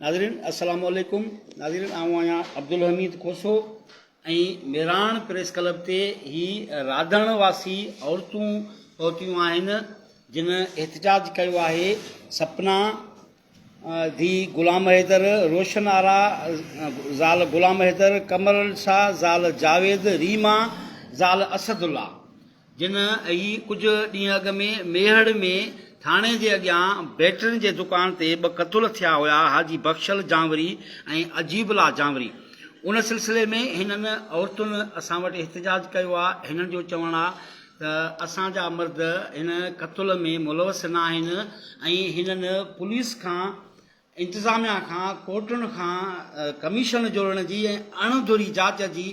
ناظرين السلام عليڪم ناظرين آئون آهيان عبدالحميد کوسو ۽ ميراڻ پريس ڪلب تي هي رادڻ واسي عورتون پهتيون آهن جن احتجاج ڪيو آهي سپنا ڌي غلام حيدر روشن آرا زال غلام حيدر قمر شاهه زال جاويد ريما زال اسد الله جن اھي ڪجھ ڏينھن اڳ ۾ ميھڙ ۾ ٿاڻي جي اڳيان بيٽرين جي دڪان تي ٻه قتل ٿيا ھيا حاجي بخشل جانوري ۽ عجيب الله جانوري ان سلسلي ۾ ھنن عورتن اسان وٽ احتجاج ڪيو آ ھنن جو چوڻ آ ته اسان جا مرد ھن قتل ۾ ملوث ناھن ۽ ھنن پوليس کان انتظاميا کان ڪورٽن کان ڪميشن جوڙڻ جي ۽ اڻ ڌري جاچ جي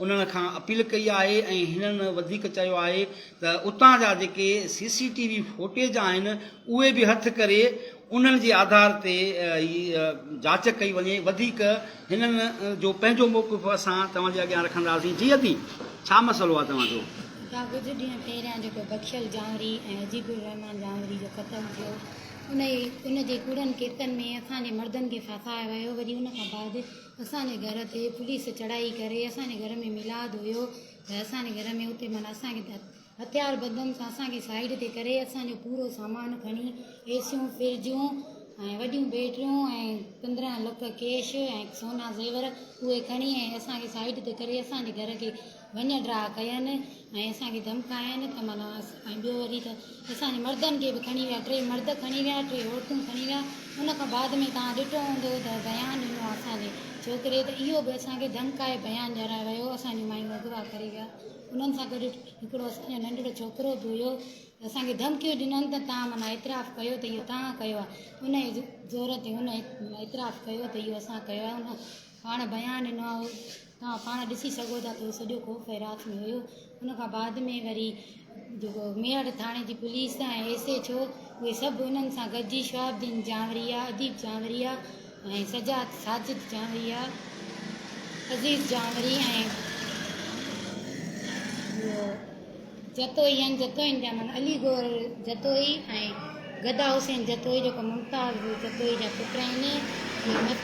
انهن کان اپيل ڪئي آهي ۽ هنن وڌيڪ چيو آهي ته اتان جا جيڪي C C T V footage آهن اهي به هٿ ڪري انهن جي آڌار تي ئي جاچ ڪئي وڃي وڌيڪ هنن جو پنهنجو موقف اسان توهان جي اڳيان رکنداسين جي ادي ڇا مسئلو آهي توهان جو؟ ڪا ڪجهه ڏينهن پهريان جيڪو بخشل جانوري ۽ عجيب الرحمان جانوري جو قتل ٿيو انهيء ان جي ڪوڙن ڪيسن ۾ اسان جي مردن کي ڦاسايو ويو وري ان کان بعد اسان جي گهر تي پوليس چڙهائي ڪري اسان جي گهر ۾ ميلاد هيو ته اسان جي گهر ۾ اتي معنيٰ اسان کي هٿيار بندن سان اسان کي سائيڊ تي ڪري اسان جو پورو سامان کڻي ايسيون فرجون ۽ وڏيون بيٽريون ۽ پندرهن لک ڪيش ۽ سونا زيور اهي کڻي ۽ اسان کي سائيڊ تي ڪري اسان جي گهر کي وڃ ڊاء ڪين ۽ اسان کي ڌمڪاين ته معنيٰ ۽ ٻيو وري ته اسان جي مردن کي به کڻي ويا ٽي مرد کڻي ويا ٽي عورتون کڻي ويا ان کان بعد ۾ توهان ڏٺو هوندو ته بيان ڏنو آهي اسان جي ڇوڪري ته اهو به اسان کي ڌمڪائي بيان ڏيارائي ويو اسان جون مايون اغوا ڪري ويا انهن سان گڏ هڪڙو اسان جو ننڍڙو ڇوڪرو به هيو اسان کي ڌمڪيون ڏنن ته توهان معنيٰ اعتراف ڪيو ته اهو توهان ڪيو آهي ان زور تي هن اعتراف ڪيو ته اهو اسان ڪيو آهي پاڻ بيان ڏنو آهي توهان پاڻ ڏسي سگهو ٿا ته سڄو خوف هرات ۾ هيو ان کان بعد ۾ وري جيڪو ميهڙ ٿاڻي جي پوليس ۽ ايس ايچ او اهي سڀ انهن سان گڏجي شهاب الدين جانوريا اديب جانوريا ۽ سجاد ساجد جانوريا عزيز جانوري ۽ جتوئي ۽ جتوئين جا من علي گور جتوئي ۽ گدا حسين جتوئي جيڪو ممتاز بيو جتوئي جا پٽ آهن اهي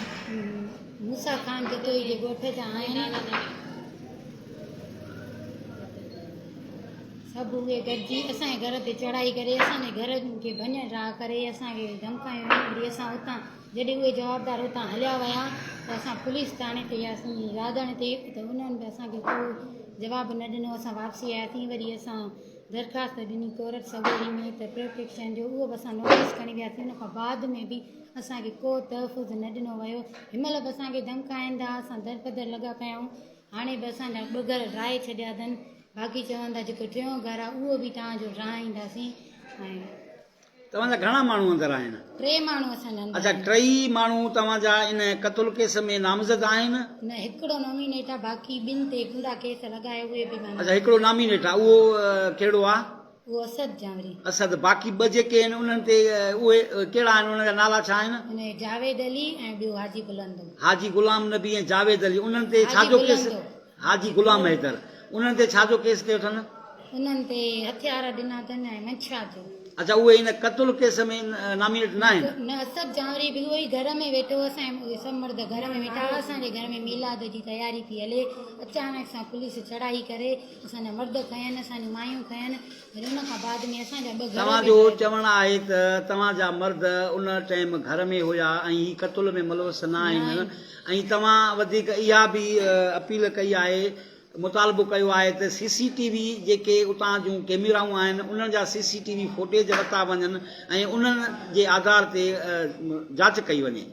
موسيٰ خان جتوئي جي ڳوٺ جا آهن سڀ اهي گڏجي اسان گهر تي چڙهائي ڪري اسان جي گهر کي ڀڃ ڊاهه ڪري اسان کي ڌمڪايون ڏيئي اسان اتان جڏهن اهي جوابدار اتان هليا ويا ته اسان پوليس ٿاڻي تي وياسين راڌڻ تي ته انهن به اسان کي ڪو جواب نه ڏنو اسان واپسي آياسين وري اسان درخواست ڏني ڪورٽ سڳوري ۾ ته پروٽيڪشن جو اهو به اسان نوٽيس کڻي وياسين ان کان بعد ۾ به اسان کي ڪو تحفظ نه ڏنو ويو هن مهل به اسان کي ڌمڪائيندا اسان درپدر لڳا پيا آهيون هاڻي به اسان جا ٻه گهر ڊاهي ڇڏيا اٿن باقي چون ٿا جيڪو ٽيون گهر آهي اهو به توهان جو ڊاهينداسين ۽ توهان جا گهڻا ماڻهو اندر آهن؟ ٽي ماڻهو اسان جا اندر آهن. اڇا ٽئي ماڻهو توهان جا ان قتل ڪيس ۾ نامزد آهن؟ نه هڪڙو نامينيٽ آ باقي ٻن تي ڪوڙا ڪيس لڳا آهي اهي به مان اڇا هڪڙو نامينيٽ آ اهو ڪهڙو آ؟ اهو اسد جانوري. اسد باقي ٻه جيڪي آهن انهن تي اهي ڪهڙا آهن انهن جا نالا ڇا آهن؟ ان جاويد علي ۽ ٻيو حاجي بلندو. حاجي غلام نبي ۽ جاويد علي انهن تي ڇا جو ڪيس؟ حاجي بلندو. حاجي غلام حيدر انهن تي ڇا جو ڪيس ڪيو اٿن؟ انهن تي هٿيار ڏنا اٿن ۽ منشيات جو. اڇا اهي ان قتل ڪيس ۾ نامينيٽ ناهن؟ نه اسد جانوري به اهو ئي گهر ۾ ويٺو هوس ۽ اهي سڀ مرد گهر ۾ ويٺا هئا اسان جي گهر ۾ ميلاد جي تياري پئي هلي اچانڪ سان پوليس چڙهائي ڪري اسان جا مرد کنين اسان جون مايون کنين توهان جو چوڻ آهي ته توهان جا مرد ان ٽيم گهر ۾ هيا ۽ هي قتل ۾ ملوث نه آهن ۽ توهان وڌيڪ اها به اپيل ڪئي آهي مطالبو ڪيو آهي ته سي سي ٽي وي جيڪي اتان جون ڪيميرائون آهن انهن جا C C T V footage ورتا وڃن ۽ انهن جي آڌار تي جاچ ڪئي وڃي.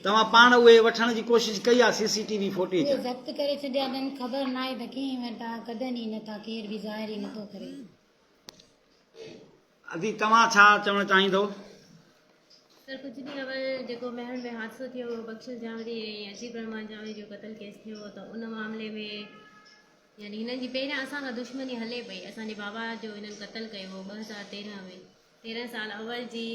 توهان پاڻ اهي وٺڻ جي ڪوشش ڪئي آ C C T V footage. اهي ضبط ڪري ڇڏيا اٿن خبر ناهي ته ڪنهن وٽ آ ڪڍن ئي نٿا ڪير به ظاهر ئي نٿو ڪري. ادي توهان ڇا چوڻ چاهيندو. سر ڪجهه ڏينهن اول جيڪو مهڙ ۾ حادثو ٿيو هو بخشش جانوري ۽ عجيب الرحمان جانوري جو قتل ڪيس ٿيو هو ته ان معاملي ۾ يعني هنن جي پهريان اسان سان دشمني هلي پئي اسان جي بابا جو هنن قتل ڪيو هو ٻه هزار تيرهن ۾ تيرهن سال اول جي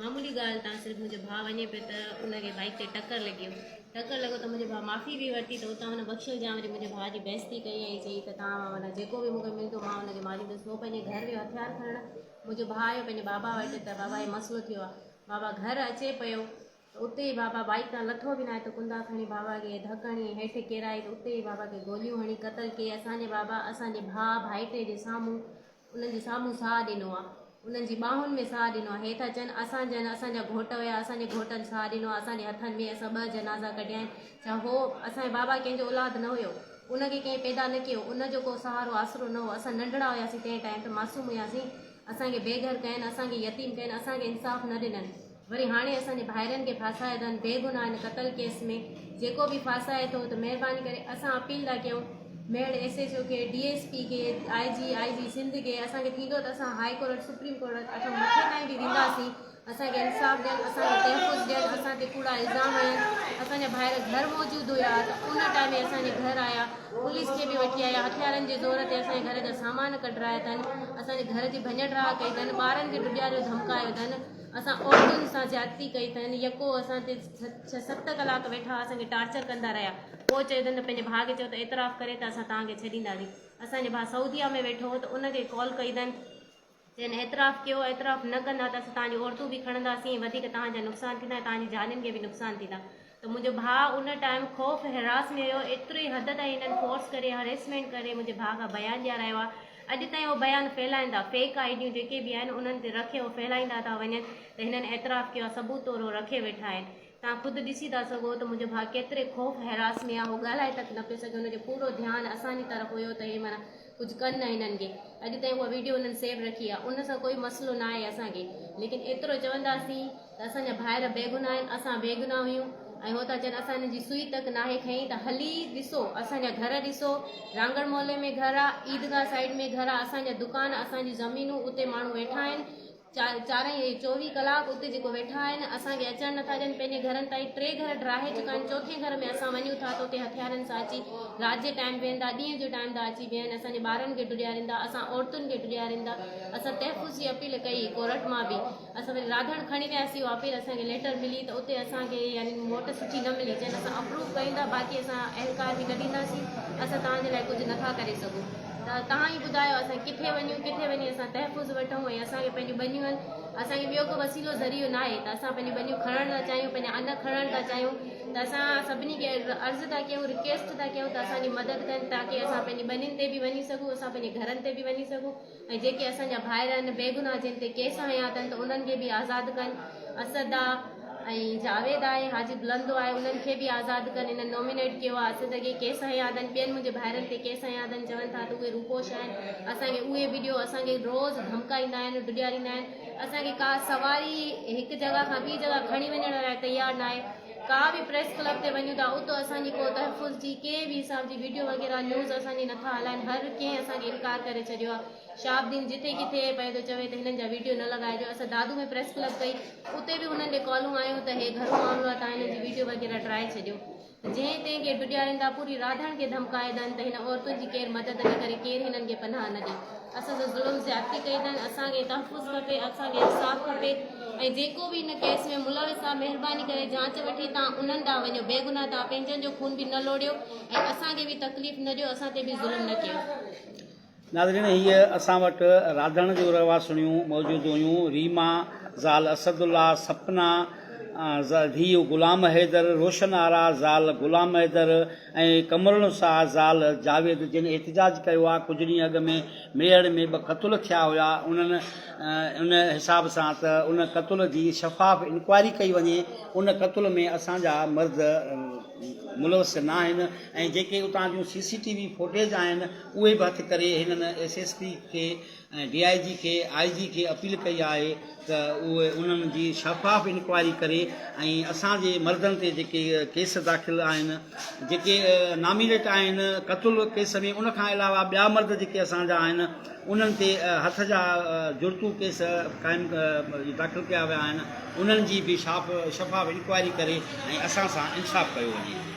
معمولي ڳالهه تان صرف منهنجو ڀاء وڃي پيو ته ان کي بائيڪ تي ٽڪر لڳي هو ٽڪر لڳو ته منهنجو ڀاء معافي به ورتي ته اتان هن بخشل جان وڃي منهنجي ڀاء جي بيستي ڪئي ۽ چئي ته تان مان معنيٰ جيڪو به مونکي ملندو مان ان کي ماريندس هو پنهنجي گهر ويو هٿيار کڻڻ منهنجو ڀاء آيو پنهنجي بابا وٽ ته بابا هي مسئلو ٿيو آهي بابا گهر اچي پيو ته اتي ئي بابا بائيڪ تان لٿو به ناهي ته ڪندا کڻي بابا کي ڌڪ هڻي هيٺ ڪيرائي ته اتي ئي بابا کي گوليون هڻي قتل ڪيئي اسان جي بابا اسان جي ڀاء ڀائٽي جي سامهون انهن جي سامهون ساهه ڏنو آ انهن جي ٻانهن ۾ ساهه ڏنو آ هي ٿا چون اسان جن اسان جا گهوٽ هيا اسان جي گهوٽن ساهه ڏنو آ اسان جي هٿن ۾ اسان ٻه جنازا ڪڍيا آهن ڇا هو اسان جي بابا ڪنهن جو اولاد نه هيو ان کي ڪنهن پيدا نه ڪيو ان جو ڪو سهارو آسرو نه هو اسان ننڍڙا هياسين تنهن ٽائيم ته معصوم هياسين اسان کي بي گهر ڪين اسان کي يتيم ڪين اسان کي انصاف نه ڏنن وري هاڻي اسان جي ڀائرن کي ڦاسائي اٿن بي گناهه هن قتل ڪيس ۾ جيڪو به ڦاسائي ٿو ته مهرباني ڪري اسان اپيل ٿا ڪيون ميڙ ايس ايس او کي ڊي ايس پي کي آء جي آء جي سنڌ کي اسان کي ٿيندو ته اسان هائي ڪورٽ سپريم ڪورٽ اٺ مٿي تائين به وينداسين اسان کي انصاف ڏين اسان کي تحفظ ڏين اسان تي ڪوڙا الزام هنيا اسان جا ڀائر گهر موجود هيا ته ان ٽائم ۾ اسان جي گهر آيا پوليس کي به وٺي آيا هٿيارن جي زور تي اسان جي گهر جا سامان ڪڍرايا اٿن اسان جي گهر جي ڀڃ ڊاهه ڪئي اٿن ٻارن کي ڊڄاريو ڌمڪايو اٿن اسان عورتن سان زيادتي ڪئي اٿن يڪو اسان تي ڇهه ست ڪلاڪ ويٺا هئا اسان کي ٽارچر ڪندا رهيا پوء چيو اٿن ته پنهنجي ڀاء کي چئو ته اعتراف ڪري ته اسان توهان کي ڇڏينداسين اسان جو ڀاء سعوديا ۾ ويٺو هو ته ان کي ڪال ڪئي اٿن چين اعتراف ڪيو اعتراف نه ڪندا ته اسان توهان جون عورتون به کڻنداسين وڌيڪ توهان جا نقصان ٿيندا ۽ توهان جي جھانين کي به نقصان ٿيندا ته منهنجو ڀاء ان ٽائيم خوف حراس ۾ هيو ايتري حد تائين هنن فورس ڪري هريسمينٽ ڪري منهنجي ڀاء کان بيان ڏيارايو آ اڄ تائين اهو بيان ڦهلائيندا فيڪ آئي ڊيون جيڪي به آهن انهن تي رکي اهو ڦهلائيندا ٿا وڃن ته هنن اعتراف ڪيو آ ثبوت طور اهو رکي ويٺا آهن توهان خود ڏسي ٿا سگهو ته منهنجو ڀاء ڪيتري خوف حراس ۾ آ اهو ڳالهائي تڪ نه پيو سگهي هن جو پورو ڌيان اسان جي طرف هيو ته هي معنيٰ ڪجهه ڪن نه هنن کي اڄ تائين اها ويڊيو هنن سيو رکي آهي ان سان ڪوئي مسئلو نه آهي اسان کي ليڪن ايترو چونداسين ته اسان جا ڀائر بيگناهه آهن اسان بيگناهه هيون ۽ هو ٿا چون اسان هنن جي سوئي تڪ ناهي کئي ته هلي ڏسو اسان جا گهر ڏسو رانگڙ محلي ۾ گهر آهي عيدگاهه سائيڊ ۾ گهر آهي اسان جا دڪان اسان جون زمينون اتي ماڻهو ويٺا آهن چارئي اهي چوويهه ڪلاڪ اتي جيڪو ويٺا آهن اسان کي اچڻ نٿا ڏين پنهنجي گهرن تائين ٽي گهر ڊاهي چڪا آهن چوٿين گهر ۾ اسان وڃون ٿا ته اتي هٿيارن سان اچي رات جي ٽائيم ويهندا ڏينهن جي ٽائيم ٿا اچي ويهن اسان جي ٻارن کي ڊوڙياريندا اسان عورتن کي ڊوڙياريندا اسان تحفظ جي اپيل ڪئي ڪورٽ مان به اسان وري راڌڻ کڻي وياسي اهو اپيل اسان کي ليٽر ملي ته اتي اسان کي يعني موٽ سٺي نه ملي چين اسان اپروو ڪيون ٿا باقي اسان اهلڪار به نه ڏينداسين اسان توهان جي لاء ڪجهه نٿا ڪري سگهون ته توهان ئي ٻڌايو اسان ڪٿي وڃون ڪٿي وڃي اسان تحفظ وٺون ۽ اسان کي پنهنجون ٻنيون آهن اسان کي ٻيو ڪو وسيلو ذريعو ناهي ته اسان پنهنجون ٻنيون کڻڻ ٿا چاهيون پنهنجا ان کڻڻ ٿا چاهيون ته اسان سڀني کي عرض ٿا ڪيون رڪويسٽ ٿا ڪيون ته اسان جي مدد ڪن تاڪي اسان پنهنجي ٻنين تي به وڃي سگهون اسان پنهنجي گهرن تي به وڃي سگهون ۽ جيڪي اسان جا ڀائر آهن بيگناهه جن تي ڪيس هنيا اٿن ته انهن کي به آزاد ڪن اسدا ۽ جاويد آهي حاجي بلند آهي انهن کي به آزاد ڪن انهن نومينيٽ ڪيو آهي اسين سان ڪي ڪيس هنيا اٿن ٻين منهنجي ڀائرن تي ڪيس هنيا اٿن چون ٿا ته اهي روپوش آهن اسان کي اهي ويڊيو اسان کي روز ڌمڪائيندا آهن ڊيڄاريندا آهن اسان کي ڪا سواري هڪ جڳهه کان ٻي جڳهه کڻي وڃڻ لاء تيار نه آهي ڪا به پريس ڪلب تي وڃون ٿا اتو اسان جي ڪو تحفظ جي ڪنهن به حساب جي ويڊيو وغيره نيوز اسان جي نٿا هلائن هر ڪنهن اسان کي انڪار ڪري ڇڏيو آهي شهاب الدين جتي ڪٿي پئي ٿو چوي ته هنن جا ويڊيو نه لڳائجو اسان دادو ۾ پريس ڪلب ڪئي اتي به هنن ڏي ڪالون آيون ته هي گهرو معاملو آهي تان هنن جي ويڊيو وغيره ڊرائي ڇڏيو جنهن تي ڪي ڊڏياريندا پوري راڌڻ کي ڌمڪائي ٿن ته هن عورتن جي ڪير مدد نه ڪري ڪير هنن کي پناهه نه ڏي اسان سان ظلم زيادتي ڪئي ٿن اسان کي تحفظ کپي اسان کي انصاف کپي ۽ جيڪو به هن ڪيس ۾ ملوث آهي مهرباني ڪري جانچ وٺي تان انهن ڏانهن وڃو بيگناهه تان پنهنجن جو خون به نه لوڙيو ۽ اسان کي به تڪليف نه ڏيو اسان تي به ظلم نه ڪيو ناظرين هيء اسان وٽ راڌڻ جون رهواسڻيون موجود هيون ريما، زال اسد الله، سپنا، ڌيء غلام حيدر، روشن آرا، زال غلام حيدر ۽ قمرالنساء، زال جاويد جن احتجاج ڪيو آهي ڪجهه ڏينهن اڳ ۾ ميهڙ ۾ ٻه قتل ٿيا هيا انهن ان حساب سان ته ان قتل جي شفاف انڪوائري ڪئي وڃي ان قتل ۾ اسان جا مرد ملوث ناهن ۽ جيڪي اتان جون C C T V footage آهن اهي به هٿ ڪري هنن ايس ايس پي کي ۽ ڊي آء جي کي آء جي کي اپيل ڪئي آهي ته اهي انهن جي شفاف انڪوائري ڪري ۽ اسان جي مردن تي جيڪي ڪيس داخل آهن جيڪي نامينيٽ آهن قتل ڪيس ۾ ان کان علاوه ٻيا مرد جيڪي اسان جا آهن انهن تي هٿ جا جڙتو ڪيس قائم داخل ڪيا ويا آهن انهن جي به شاف شفاف انڪوائري ڪري ۽ اسان سان انصاف ڪيو وڃي